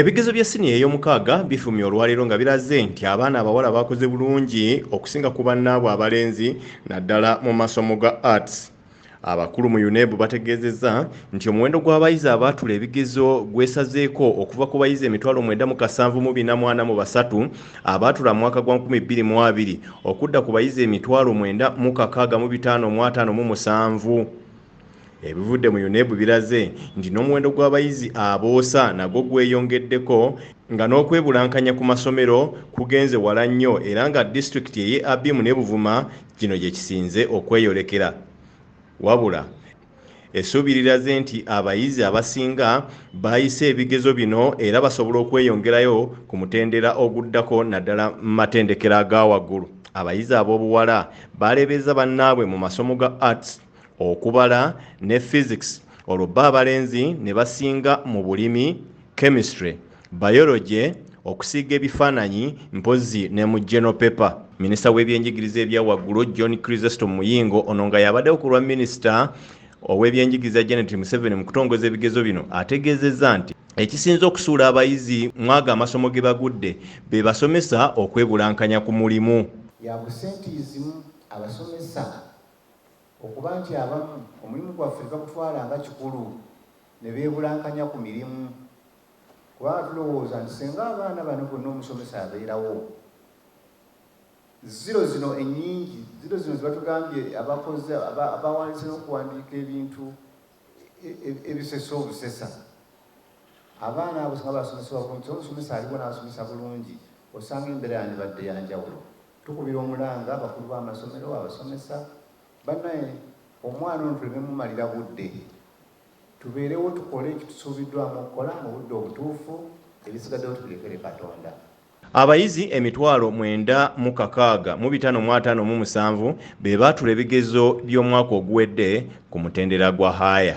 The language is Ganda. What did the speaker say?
Ebigezo bya siniya ey'omukaaga bifumye olwaleero nga biraze nti abaana abawala bakoze bulungi okusinga ku bannaabwe abalenzi naddala mu masomo ga arts. Abakulu mu UNEB bategeezezza nti omuwendo gw'abayizi abaatula ebigezo gwesazeeko okuva ku bayizi emitwalo mwenda mu kasanvu mu bina mwana mu basatu abaatula mu mwaka gwa nkumi bbiri mu abiri okudda ku bayizi emitwalo mwenda mu kakaaga mu bitaano mu ataano mu musanvu. Ebivudde mu UNEB biraze nti n'omuwendo gw'abayizi aboosa nagwo gweyongeddeko nga n'okwebulankanya ku masomero kugenze wala nnyo era nga disitulikiti eye Abim ne Buvuma kino gye kisinze okweyolekera. Wabula essuubi liraze nti abayizi abasinga baayise ebigezo bino era basobola okweyongerayo ku mutendera oguddako naddala mu matendekero aga waggulu. Abayizi ab'obuwala baaleebeeza bannaabwe mu masomo ga Arts. okubala ne physics olwo bba abalenzi ne basinga mu bulimi chemistry biology okusiiga ebifaananyi mpozzi ne mu general paper minisita w'ebyenjigiriza ebya waggulu john crisesto muyingo ono nga yabaddewo ku lwa minisita ow'ebyenjigiriza janet museveni mu kutongoza ebigezo bino ategeezezza nti ekisinze okusuula abayizi mwaga amasomo ge bagudde be basomesa okwebulankanya ku mulimu yakusente izimu abasomesa Okuba nti abamu omulimu gwaffe tebagutwala nga kikulu ne beebulankanya ku mirimu kubanga tulowooza nti singa abaana bano bonna omusomesa abeerawo ziro zino ennyingi ziro zino zebatugambye abakoze abawandiise n'okuwandiika ebintu e, e, ebisesa obusesa abaana abo singa basomesebwa bulungi omusomesa aliwo n'abasomesa bulungi osanga embeera yandibadde yanjawulo Tukubira omulanga abakulu b'amasomero, abasomesa, banaye omwana ono tuleme mumalira budde, tubeerewo tukole ekitusuubiddwamu okukola mu budde obutuufu, ebisigaddewo tubirekere Katonda. Abayizi emitwalo mwenda mu kakaaga mu bitaano mu ataano mu musanvu be baatula ebigezo by'omwaka oguwedde ku mutendera gwa haaya.